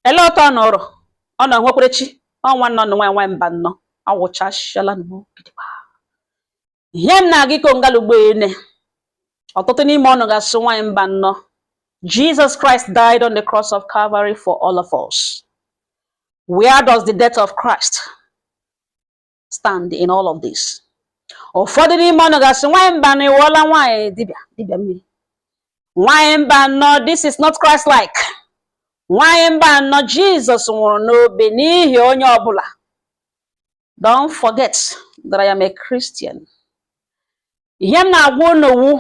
ele otu unu rị unu nwekwere chi ọ nwanne unu nwaanyị nwaanyị Mbanọ awụchashala ihe m na-aga ịkọ ngalugbo ene ọtụtụ n'ime unu ga-asị nwaanyị Mbanọ Jesus Christ died on the cross of Calvary for all of us. Where does the death of Christ stand in all of this ụfọdụ n'ime unu ga-asị nwaanyị Mbanọ ị wụọla nwaanyị dibịa dibịa mmiri nwaanyị Mbanọ this is not Christ like nwaanyị Mbanọ Jizọs nwụrụ n'obe n'ihi onye ọbụla don't forget that I am a Christian ihe m na-agwa unu wụ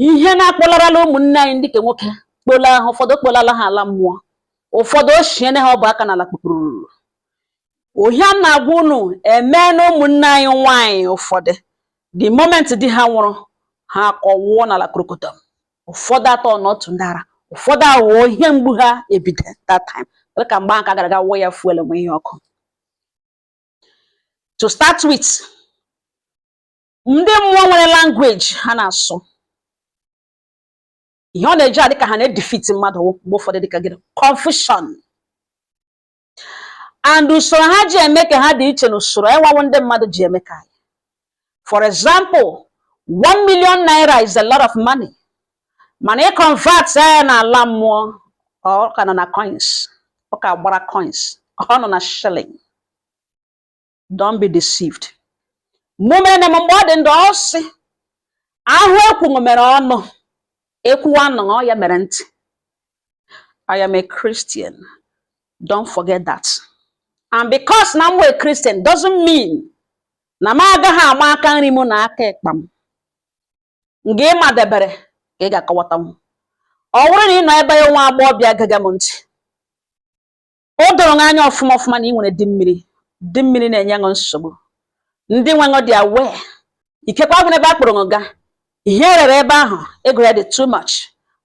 ihe na-akpọlarala ụmụnne anyị ndị ke nwoke kpọla ha ụfọdụ ọ kpọlala ha ala mmụọ ụfọdụ ochiene ha ọbụ aka n'ala kpukpururu ihe m na-agwa unu emeena ụmụnne anyị nwaanyị ụfọdụ the moment di ha nwụrụ ha akọwụọ n'ala krokotom ụfọdụ atọ na otu ndị ara ụfọdụ aghọọ ihe mgbu ha ebido that time dịka mgbe ahụ ka gara aga wụọ ya fuel mụnye ọkụ to start with ndị mmụọ nwere language ha na-asụ ihe ọ na-eji adị ka ha na-edefeat mmadụ mgbe ụfọdụ dịka gịnị confusion and usoro ha ji eme ke ha dị iche na usoro anyịwa wụ ndị mmadụ ji eme ke anyị for example one million naira is a lot of money mana ị convert ya na ala mmụọ ọ ka nọ na coins ọ ka gbara coins ọ nọ na shilling don't be deceived mumere na mgbe ọ dị ndụ ọ sị ahụ ekwu mere ọnụ ekwuwe anụ ọ ya mere ntị I am a Christian don't forget that and because na m wụ Christian doesn't mean na m agaghị ama aka nri m na aka ịkpa m nga ị madebere ka ị ga-akọwatanwu ọ bụrụ na ị nọ ebe a nwa agbọghọ bịa gaga m ntị o doro gị anya ọfụma ọfụma na ị nwere di mmiri di mmiri na-enye ṅụ nsogbu ndị nwe ṅụ dị aware ikekwa nwere ebe a kpọrọ ṅụ gaa ihe e rere ebe ahụ ego ya dị too much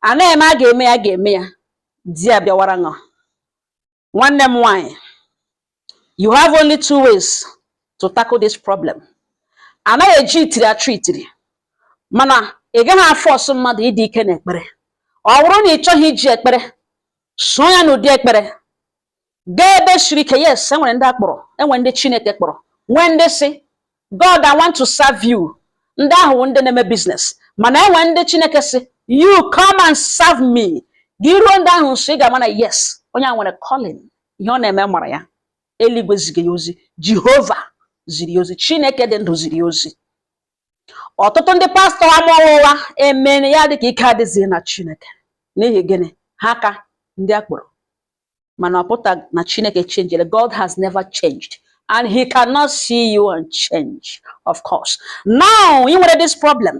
a na-eme a ga-eme ya a ga-eme ya di abịawara ṅụ nwanne m nwaanyị you have only two ways to tackle this problem anaghị eji itiri achụ itiri mana ị gaghị aforce mmadụ ịdị ike n'ekpere ọ bụrụ na ị chọgha iji ekpere soo ya n'ụdị ekpere gaa ebe siri ike yes enwere ndị a kpọrọ enwere ndị chineke kpọrọ nwee ndị sị god i want to serve you ndị ahụ wụ ndị na-eme business mana enwere ndị chineke sị you come and serve me gị ruo ndị ahụ nso ị ga-ama na yes onye a nwere calling ihe ọ na-eme mara ya eluigwe ziri ya ozi jehova ziri ya ozi chineke dị ndụ ziri ya ozi ọtụtụ ndị pastọ ama ụgha emene ya dịka ike adịghị na chineke n'ihi gịnị ha ka ndị a kpọrọ mana ọ pụta na chineke changere god has never changed and he cannot see you and change of course now ị nwere this problem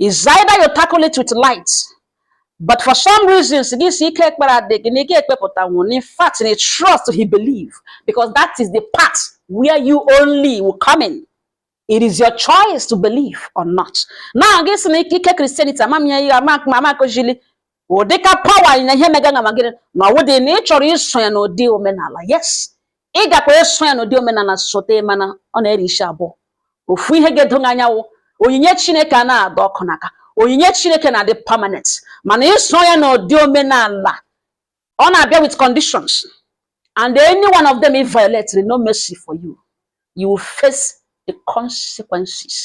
is either you tackle it with light but for some reasons gị sị ike ekpere adị gị na ị ga-ekpepụta nwụrụ in fact na ị trust he believe because that is the part where you only will come in It is your choice to believe or not. Now, gị sị na ikike Christianity ama m ya ihe ama akụzili ụdịka power na ihe mega na magịrị na ọ wụdị na ị chọrọ iso ya n'ụdị omenala yes ị gakwa iso ya n'ụdị omenala sote mana ọ na-eri isi abụọ ofu ihe ga-edo anya wụ onyinye Chineke a na-adọ ọkụ n'aka onyinye Chineke na-adị permanent mana iso ya n'ụdị omenala ọ na-abịa with conditions and any one of them ị violate no mercy for you you will face the consequences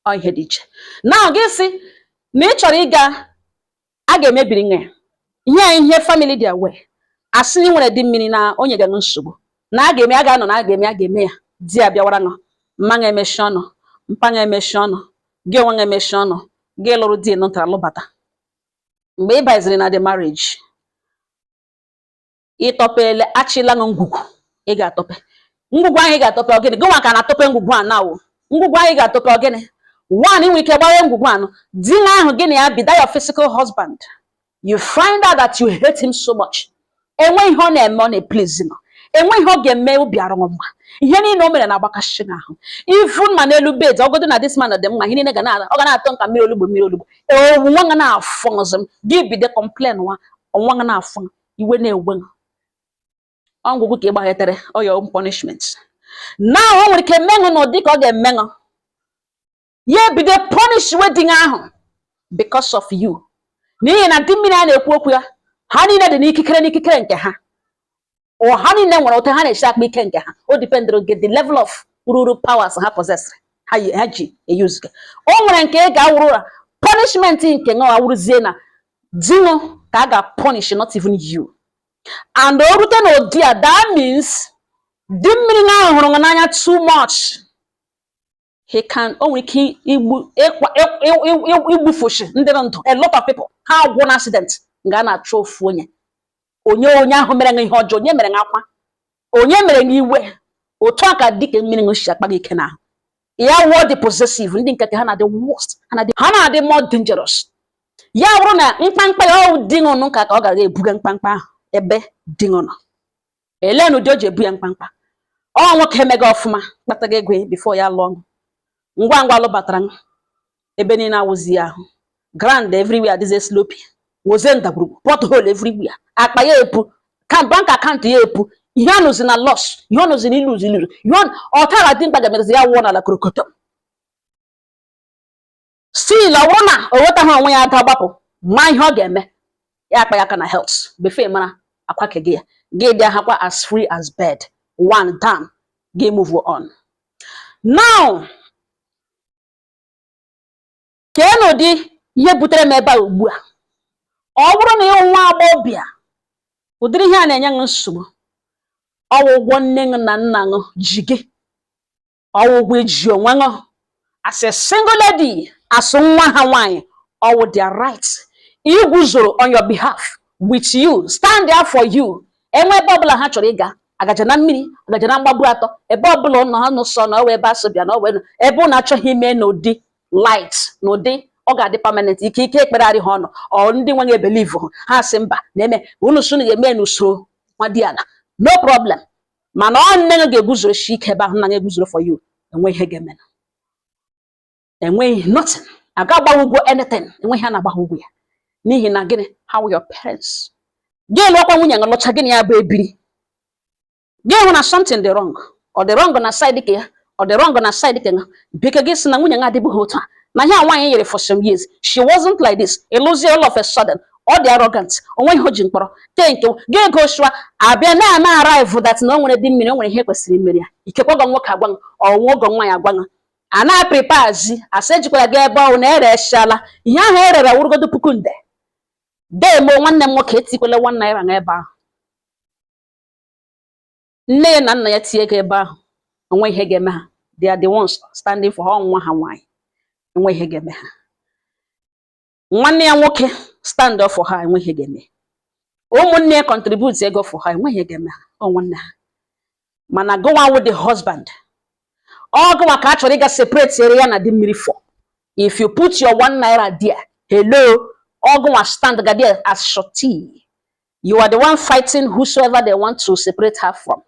ọ ihe dị iche now gị sị na ị chọrọ ịga a ga-emebiri nụ ihe ihe family dị aware asị na ị nwere di mmiri na o nyega nsogbu na a ga-eme a ga-anọ na a ga-eme a ga-eme ya di ya bịawara nụ mma ga emechi ọnụ mpa ga emechi ọnụ gị onwe ga emechi ọnụ gị lụrụ di nụtara lụbata mgbe ị baziri na the marriage ịtọpele achịla nụ ngwugwu ị ga-atọpe ngwugwu ahụ ị ga-atọpe ọ gịnị gị nwa ka na-atọpe ngwugwu a now ngwugwu ahụ ị ga-atọpe ọ gịnị one i nwe ike gbaghee ngwugwu anụ di nwa ahụ gị na ya bi that your physical husband you find out that you hate him so much enwe ihe ọ na-eme ọ na-eplizi nụ enwe ihe ọ ga-eme obi arụ gị mma ihe niile o mere na-agbakasị nụ ahụ even ma n'elu bed ọ godu na this man dị mma ihe niile ga na ọ ga na-atọ nụ ka mmiri olugbu mmiri olugbu ọ wụ nwa ga na-afụ ọzọ m gị bido complain nwa ọnwa ga na-afụ iwe na-ewe m ọ ngwugwu ka ị gbaghetere your own punishment now o nwere ike me nụ n'ụdị ka ọ ga-eme nụ ya ebido punish nwa di ahụ because of you n'ihi na di mmiri a na-ekwu okwu ya ha niile dị n'ikikere n'ikikere nke ha ọ ha niile nwere otu ha na-eshi akpa ike nke ha o dipendịrị gị the level of ruru powers ha possesịrị ha ji eyuzuga o nwere nke ga-awụrụ your punishment nke nwa awụrụzie na di nụ ka a ga-punish not even you and o rute n'ụdị a that means di mmiri na ahụ hụrụ n'anya too much he can o nwere ike igbu igbufushi ndị ndụ a lot of people ha agwụ na accident nga a na-achụ ofu onye onye onye ahụ mere ihe ọjọọ onye mere akwa onye mere n'iwe otu a ka di nke mmiri si akpa gị ike n'ahụ ya wụọ the possessive ndị nke ha na-adị worst ha na-adị more dangerous ya bụrụ na mkpamkpa ya ọ wụ di nụ ka ka ọ ga-ebuga mkpamkpa ahụ ebe di nụ nọ elee n'ụdị o ji ebu ya mkpamkpa ọ nwoke emega ọfụma kpataga ego ya before ya lụọ ngwa ngwa lụbatara m ebe niile awụzi ya ahụ ground everywhere adịzi sloppy wụzie ndagwurugwu pothole everywhere akpa ya epu bank account ya epu ihe ọ nọzi na loss ihe ọ nọzi na lose ihe ọ tara dị mkpa ga-emezi ya wụọ n'ala korokotom still ọ wụrụ na o nwetaghị onwe ya ada gbapụ ma ihe ọ ga-eme ya akpa ya aka na health before mara akwa ke gị ya gị dị ahakwa as free as bird one down gị move on now kee n'ụdị ihe butere m ebe a ugbu a ọ wụrụ na ị wụ nwa agbọghọbịa ụdịrị ihe a na-enye ṅụ nsogbu ọ wụ ụgwọ nne ṅụ na nna ṅụ ji gị ọ wụ ụgwọ i ji onwe ṅụ as a single lady as nwa ha nwaanyị ọ wụ their right iguzoro on your behalf with you stand there for you enwe ebe ọbụla ha chọrọ ịga agaja na mmiri agaja na mgbagbu atọ ebe ọbụla ụlọ ha nụsọ na ọ wụ ebe a sị bịa na ọ wụ ebe ụnụ achọghị ime n'ụdị light n'ụdị ọ ga-adị permanent ike ike ekpegharị ha ọnụ ọ ndị nweghị believe ha sị mba na-eme unu sị unu ga-eme n'usoro nwadiana no problem mana ọ nne gị ga-eguzosi ike ebe ahụ nna ṅụ eguzoro for you enwe ihe ga-eme enweghị nothing a ga-agba gị ụgwọ anything enweghị ihe a na-agba gị ụgwọ ya n'ihi na gịnị ha wụ your parents gị lụọkwa nwunye ṅụ lụcha gị na ya bụ ebiri gị hụ na something dị wrong ọ dị wrong na side ke ya ọ dị wrong na side ka because na nwunye ṅụ adịbughị otu a na ihe a nwaanyị nyere for some years she wasn't like this ị lụzie all of a sudden ọ dị arrogant o nwe ihe o ji mkpọrọ tee nke gị ego shụa a bịa na-arrive that na o nwere di mmiri o nwere ihe kwesịrị imere ya ikekwa ọgọ nwoke agwa ọnwa ọgọ nwaanyị agwa a na-apreparezi a sị e jikwara gị ebe ọ wụ na e reshala ihe ahụ e rere wụrụgodo puku nde demo nwanne m nwoke etikwele one naira n'ebe ahụ nne ya na nna ya tinye ego ebe ahụ enwe ihe ga-eme ha they are the ones standing for ha ọ nwa ha nwaanyị enwe ihe ga-eme ha nwanne ya nwoke stand up for ha enwe ihe ga-eme ụmụnne ya contribute ego for ha enwe ihe ga-eme ha ọ nwanne ha mana gụwa wụ the husband ọ gụwa ka a chọrọ ịga separate ere ya na di mmiri for if you put your one naira there hello ọ gụwa stand ga there as surety You are the one fighting whosoever they want to separate her from.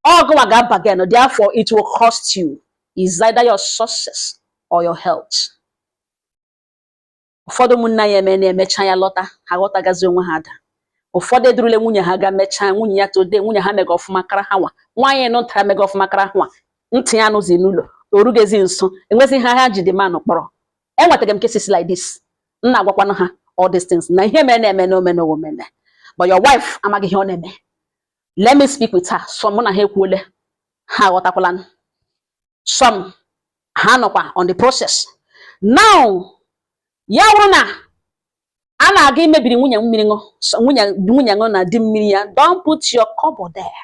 Ọ gụnwa ga-abargain, therefore it will cost you. Is either your success or your health. Ụfọdụ ụmụnna anyị eme na-emecha ya lọta ha ghọtagazi onwe ha ada ụfọdụ edurule nwunye ha ga mechaa nwunye ya tode nwunye ha mega ọfụma kara ha nwa nwaanyị nọ ntara mega ọfụma kara ha nwa ntị ya anụzi n'ụlọ orugezi nso enwezi ihe ha ji the man kpọrọ enwetaga m cases like this m na-agwakwanụ ha all these things na ihe mere na-eme na omena omena but your wife amaghị ihe ọ na-eme let me speak with her some mụ na ha ekwuole ha aghọtakwala some ha nọkwa on the process now ya wụrụ na a na-aga imebiri nwunye mmiri ṅụ nwunye ṅụ na di mmiri ya don't put your kobo there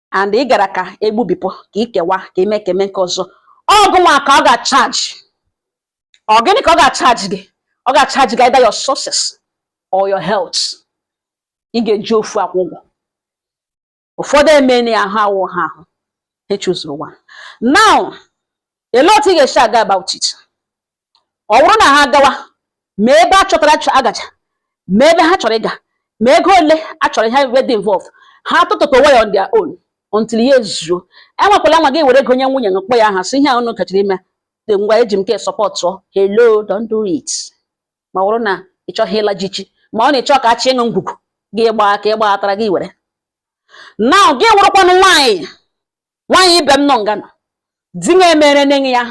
and ị gara ka egbubipụ ka ikewa ka ime ka eme nke ọzọ ọ gịnịwa ka ọ ga-achaji ọ gịnị ka ọ ga-achaji gị ọ ga-achaji gị either your sources or your health ị ga-eji ofu akwụ ụgwọ ụfọdụ emeni ahụ awụ ha ahụ ha echie ụzọ nwa now ele otu ị ga-esi aga about it ọ wụrụ na ha gawa ma ebe a chọtara a gacha ma ebe ha chọrọ ịga ma ego ole a chọrọ ihe ebe dị involved ha tụtụta onwe ya on their own until ya ezuo anwakwala anwa gị were ego nye nwunye gị kpọ ya aha sị ihe a unu gachara ime dị ngwa eji m nke a sọpọtụ hello don't do it ma ọ wụrụ na ị chọghị ịla jichi ma ọ na ị chọ ka a chịa ịṅụ ngwugwu gị gbaa ka ị gbaghọtara gị were now gị wụrụkwanụ nwaanyị nwaanyị ibe m nọ nga nọ di ya emere nne ya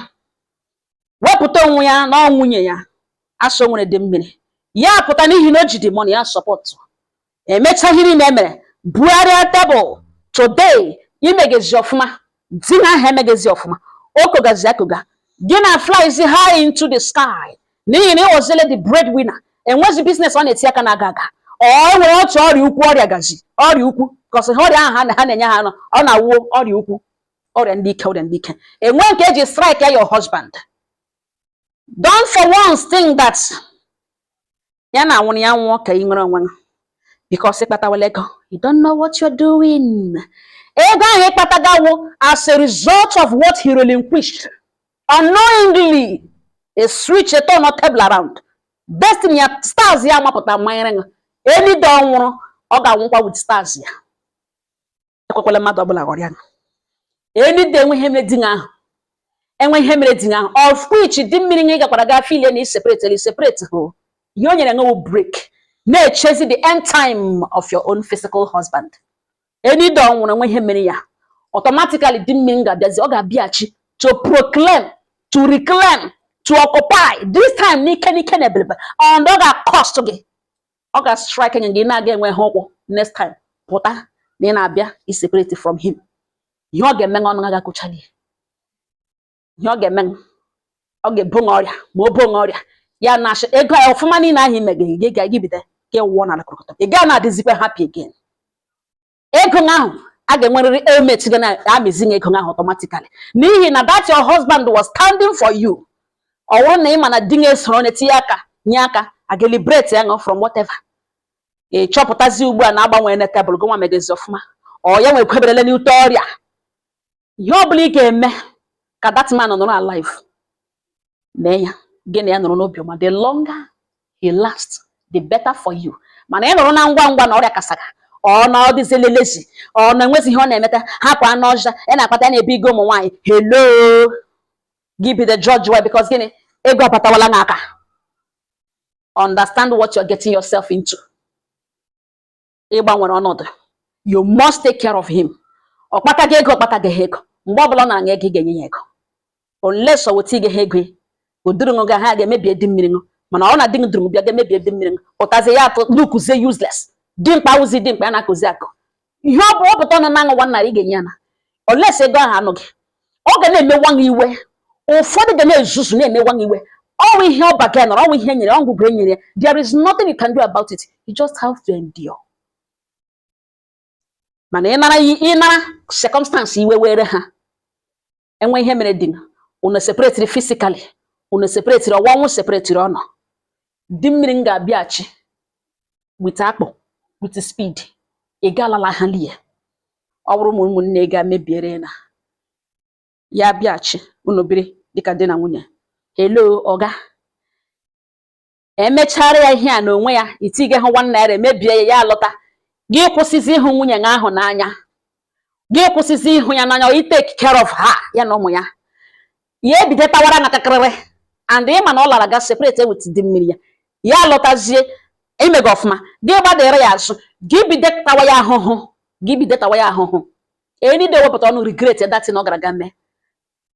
wepụta onwe ya na ọ nwunye ya a sị nwere di mmiri ya pụta n'ihi na o ji the money ya sọpọtụ emecha ihe niile emere bugharịa tebụl today imegezi ọfụma di na aha emegezi ọfụma o kogazi akoga gị na-flyzi high into the sky n'ihi na ị wụzile the bread winner enwezi biznes ọ na-eti aka na-aga aga ọ nwere otu ọrịa ukwu ọrịa gazi ọrịa ukwu cause ha ọrịa ahụ ha na-enye ha ọ na-awụ ọrịa ukwu ọrịa ndị ike ọrịa ndị ike enwe nke eji strike ya your husband don't for once think that ya na-anwụrụ ya nwụọ ka ị nwere onwe gị because ị kpatawala ego you don't know what you're doing ego ahụ ị kpataga wụ as a result of what he relinquished unknowingly e switch e turn table around destiny ya stars ya amapụta manyere ṅụ any day ọ nwụrụ ọ ga-anwụkwa with stars ya ekwekwala mmadụ ọbụla ghọrịa ṅụ any day enwe ihe mere di ahụ enwe ihe mere di ahụ of which di mmiri ṅụ ị gakwara gaa filie na iseparate na iseparate hụ ihe o nyere ṅụ wụ break na-echezi the end time of your own physical husband Any day ọ nwụrụ enwe ihe mere ya automatically di mmiri ga-abịazi ọ ga-abịachi to proclaim to reclaim to occupy this time n'ike n'ike na ebelebe and ọ ga-cost gị ọ ga-strike gị na-aga enweha ụkwụ next time pụta na ị na-abịa i separate from him ihe ọ ga-eme ọnụ aga akọchali ihe ọ ga-eme ọ ga-ebo ṅa ọrịa ma o bo ṅa ọrịa ya na-achọ ego ya ọfụma niile ahụ ị mega gị ga-ebido ka ị wụọ n'ala kọrọkọtọ ị gaa na-adịzikwa happy again ego ahụ a ga-enwerịrị emet gị na-amịzi gị ego ahụ automatically n'ihi na that your husband was standing for you ọ bụrụ na ị ma na di gị esoro onye tinye aka nye aka a ga-liberate ya ṅụ from whatever ị chọpụtazi ugbu a na-agbanwe na tebụl gị nwa megazi ọfụma ọ ya nwekweberele n'ute ọrịa ihe ọ bụla ị ga-eme ka that man nọrọ alive mee ya gị na ya nọrọ n'obi ọma the longer he last the better for you mana ị nọrọ na ngwa ngwa na ọrịa kasaga ọ na ọ dịzi lazy ọ na enwezi ihe ọ na-emeta hapụ anụ ọja ya na-akpata ya na-ebe ego ụmụ nwaanyị hello gị be the judge why because gịnị ego abatawala n'aka understand what you're getting yourself into ịgbanwere ọnọdụ you must take care of him ọ kpataga ego ọ kpataghị ego mgbe ọ bụla ọ nara ṅụ ego ị ga-enye ya ego unless ọ wetaghị ego o duru ṅụ gaa ga emebie di mmiri ṅụ mana ọ na di duru bịa ga emebie di mmiri ṅụ pụtazie ya atụ n'ukuzie useless dimkpa awụzi dimkpa ya na-akụzi akụ ihe ọ bụ ọ pụta ọnụ nara ṅụ one naira ị ga-enye ya na unless ego ahụ anọghị ọ ga na-emewa gị iwe ụfọdụ ga na-ezuzu na-emewa gị iwe ọ wụ ihe ọ bargainịrị ọ wụ ihe e nyere ọ ngwugwu e nyere there is nothing you can do about it you just have to endure mana in a in a circumstance iwe were ha enwe ihe mere di unu separetiri physically unu separetiri ọ wụ ọnwụ separetiri unu di mmiri m ga-abịachi with akpụ with speed ị ga-alala ha lie ọ bụrụ ma ụmụnne ga mebiere na ya bịachi unu biri dịka di na nwunye hello ọ ga-emechara ya ihe a na onwe ya i tigahụ one naira emebie ya ya alọta gị kwụsịzi ịhụ nwunye gị ahụ n'anya gị kwụsịzi ịhụ ya n'anya ị take care of her ya na ụmụ ya ya ebido tawara na kakịrịrị and ị ma na ọ lara ga separate with di mmiri ya ya lọtazie ị mega ọfụma gị gbadere ya azụ gị bido tawa ya ahụhụ gị bido tawa ya ahụhụ any day wepụta ọnụ regret that thing ọ gara ga mee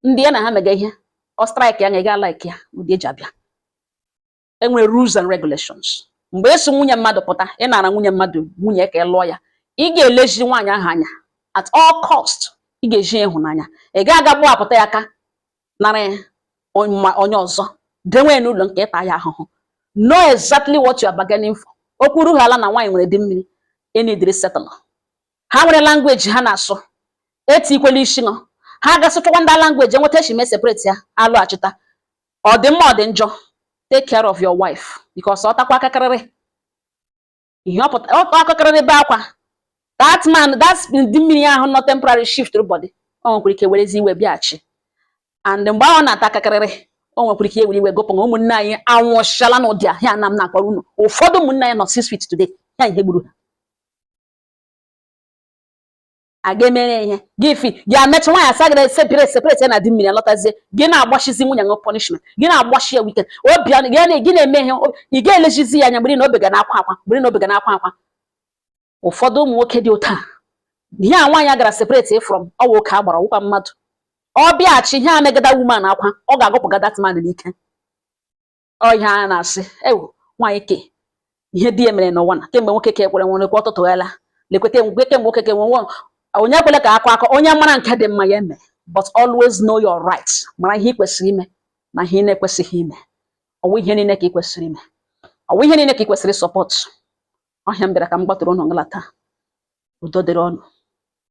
ndị ya na ha mega ihe ọ strike ya na ị ga like ya ụdị e ji abịa e nwere rules and regulations mgbe i so nwunye mmadụ pụta ị nara nwunye mmadụ nwunye ka ị lụọ ya ị ga-elezi nwaanyị ahụ anya at all cost ị ga-eji ịhụnanya ị ga-aga gbapụta ya aka nara onye ọzọ dewe n'ụlọ nke ịta ya ahụhụ know exactly what you are bargaining for okwu rughị ala na nwaanyị nwere di mmiri e needịrị settle ha nwere language ha na-asụ etikwala isi nọ ha ga-asụchakwa that language enweta echime separate ya alọghachita ọ dị mma ọ dị njọ take care of your wife because ọ takwa akakịrịrị ihe ọ pụta ọ akakịrịrị be akwa that man that di mmiri ahụ nọ temporary shift body o nwekwara ike werezi iwe bịaghachi and mgbe ahụ na-ata akakịrịrị o nwekwara ike were iwe gụpụ na ụmụnne anyị anwụchala n'ụdị ihe a na m na-akpọrọ unu ụfọdụ ụmụnne anyị nọ six feet today ya ihe gburu ha aga emere ihe gị fi gị amecha nwaanyị asa gị separate ya na di mmiri alọtazie gị na-agbachizi nwunye gị punishment gị na-agbachi ya wike obi ọnụ gị na gị na-eme ihe ị ga-elechizi ya anya mgbe na obi ga na-akwa akwa mgbe na obi ga na-akwa akwa ụfọdụ ụmụ nwoke dị otu a ihe a nwaanyị gara separate from ọwụ oke agbara ọwụkwa mmadụ ọ bịaghachi ihe a mega that woman akwa ọ ga-agụpụga that man n'ike ọ ihe a na-asị ewu nwaanyị ke ihe di ya mere n'ụwa na kemgbe nwoke ka ekwere nwere kwa ọtụtụ ghela lekwete ngwe kemgbe nwoke ka enwe onye kwele ka akọ akọ onye mara nke dị mma ya eme but always know your right mara ihe ị kwesịrị ime na ihe ị na-ekwesịghị ime ọwụ ihe niile ka ị kwesịrị ime ọwụ ihe niile ka ị kwesịrị support ọ ihe m bịara ka m gbatụrụ unu ngala taa udo dịrị unu